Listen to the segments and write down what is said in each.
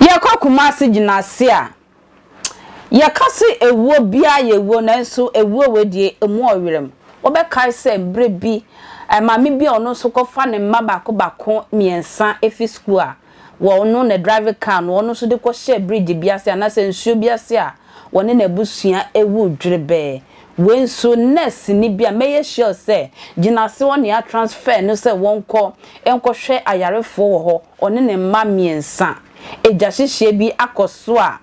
yɛkɔ kumase gyinaase a yɛka se ewuo biaa yɛ ewuo nanso ewuo wei deɛ emu ɔwerem wobɛkae sɛ berɛ bi maame bi a ɔno nso kɔfa ne mma baako baako mmiɛnsa firi sukuu a Wɔno na drive car no ɔno nso de kɔ hyɛɛ bridge bi ase anaasɛ nsuo bi ase a wɔne n'abusua awu dwerebɛɛ. Wei nso nurse ni bi a mɛyɛ sure sɛ gyinaase hɔ na yɛa transfer no sɛ wɔnkɔ nkɔhwɛ ayarefoɔ wɔ hɔ, ɔne ne mma mmiɛnsa. Egyahyehyeɛ bi akɔ so a.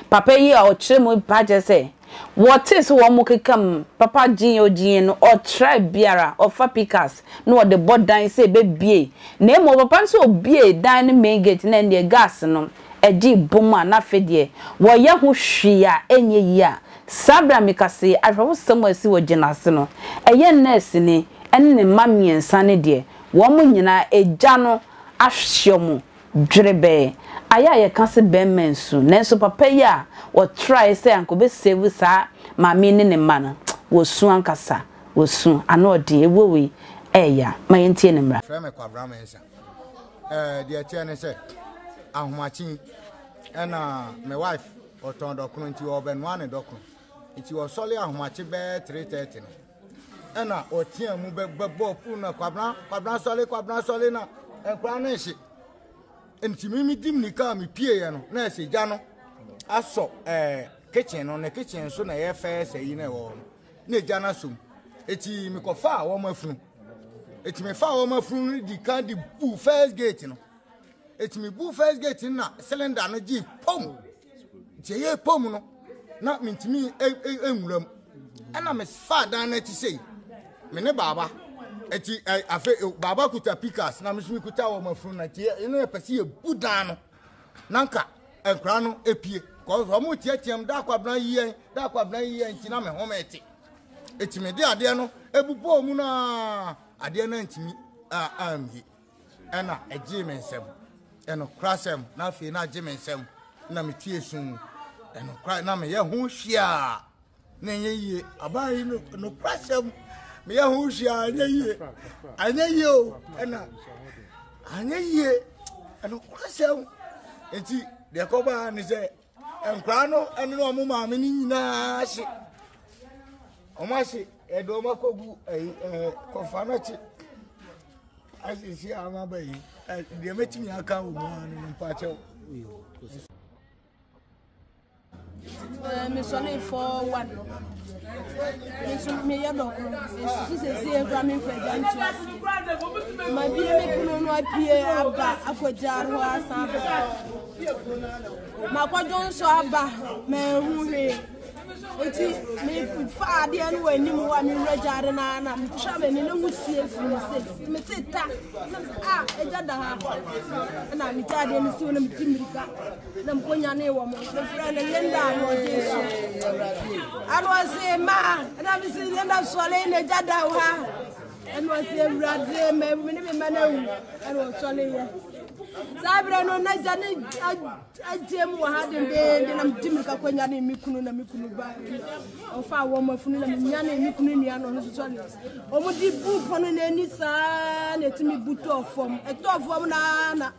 Papa yi a ɔkyerɛ mu pa kyerɛ sɛ wɔtee sɛ wɔkekam papa gyin a ɔgyiiɛ no, ɔtrae biara ɔfa pikas na ɔde bɔ dan sɛ ɛbɛbue, na mmom papa no sɛ ɔbuee dan no main gate no ɛnneɛ gas no gyee bom a na afei deɛ wɔyɛ ho hwee a ɛnyɛ yie a saa berɛ a meka sei ahwɛwosɛm a ɛsi wɔ gyina ase no ɛyɛ nɛɛseni ne ne mma mmiɛnsa no deɛ wɔn nyinaa agya no ahwe wɔn Dwerebɛɛ, ayɛ a yɛka se bɛmma nsu, nanso papa yi a ɔtrae sɛ anka ɔbɛsave saa maame yi ne ne mma no, wɔsu ankasa, wɔsu, ano ɔden, ɛwuo wei ɛɛya, ma yɛntie ne mmra. Frɛ me Kwabena Mensah. Ɛɛ deɛ ɛteɛ ne sɛ ahomakye yi ɛna me wife ɔtɔn dɔkono nti ɔrebɛnoa ne dɔkono nti ɔsɔre ahomakye bɛɛ three thirty no ɛna ɔteaa mu bɛbɔɔ fon na kwabena kwabena sɔle kwabena sɔle na nkwadaa no nhye nti mi mi di mi kaa mi pie yɛ no na ɛsɛ gya no asɔ ɛɛ kitchen no na kitchen so na ɛyɛ fɛɛ sɛ yi na ɛwɔ hɔ no na gya no asɔ mu eti mi kɔ faa wɔn afunu eti mi faa wɔn afunu no di kan di bu first gate no. Eti me bu first gate no na cylinder no gye pom. Nti ɛyɛ pom no na mentumi nwura mu. Ɛna me fa dan no akyi sei. Me ne baaba. Eti afe baaba kuta pikas na me so mekuta wɔ mafunu na ti ɛno yɛ pɛsi yɛ bu dan no. Nanka nkura no epie. Kɔs wɔn tiatiam da akwabena yi yɛn da akwabena yi yɛn nti na me home ɛte. Eti me de adeɛ no ebu bɔɔ mu na adeɛ no ntumi a amie. Ɛna ɛgyee me nsam. Ɛnokorasɛm na afei na agye me nsam na metie sum. Ɛnokora na meyɛ ho hwiaa na ɛnyɛ yie. Abaa yi nokorasɛm meyɛ ho hwiaa ɛnyɛ yie. Ɛnyɛ yie o ɛna ɛnyɛ yie. Ɛnokorasɛm nti deɛ ɛkɔbaa ne sɛ nkwadaa no ne wɔn maame no nyinaa hye wɔn ahye yɛde wɔn akɔgu ɛyi ɛɛ kɔfa no akyi asiesie a wɔn aba yi ɛ deɛ mɛtumi aka wɔ mu ara no mpakyɛw. mesɔne fɔ one nso meyɛ dɔko nsusu sɛsi ekura me nfa gya ntu ase ma bie me kunu no apue aba akɔgya hɔ asan aba Makɔdwo nso aba manhu hwee nti mefa adeɛ no wɔ anim hɔ a mewura gyaade no ara na metwa m'ani na wusie firi me se mete ta a ɛgya da ha na megya adeɛ no si hɔ na meti mmirika na mekɔnyane wɔ mo mefrɛ no lenda anoɔgye so anoɔse ma na mese lenda sɔle na ɛgya da ha ɛna ɔsi awurade mɛ mi ne mi mma na ewu ɛna ɔsɔre yɛ saa abirɛ no na gya ne agye mu wɔ ha dendeende na di mi kakɔ nya ne mi kunu na mi kunu ba ɔfa awɔ ma funu na mi nya ne mi kunu nua na ɔno nso sɔre wɔn di bu pono n'ani saa na etimi bu tɔɔ fam ɛtɔɔ fam naa na.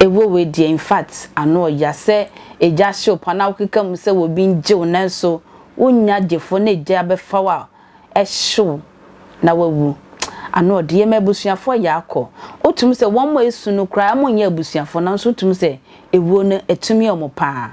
Ewo wei deɛ infact ano ɔya sɛ egya ahye wo paa na wokeka mu sɛ obi ngye wo nanso wonnya gyefo na egya abɛfa wo a ɛhye wo na wawu ano ɔde yɛ ma abusuafoɔ yɛ akɔ wotumi sɛ wɔn a esu no koraa wɔn nyɛ abusuafoɔ nanso wotumi sɛ ewuo no etumi wɔn paa.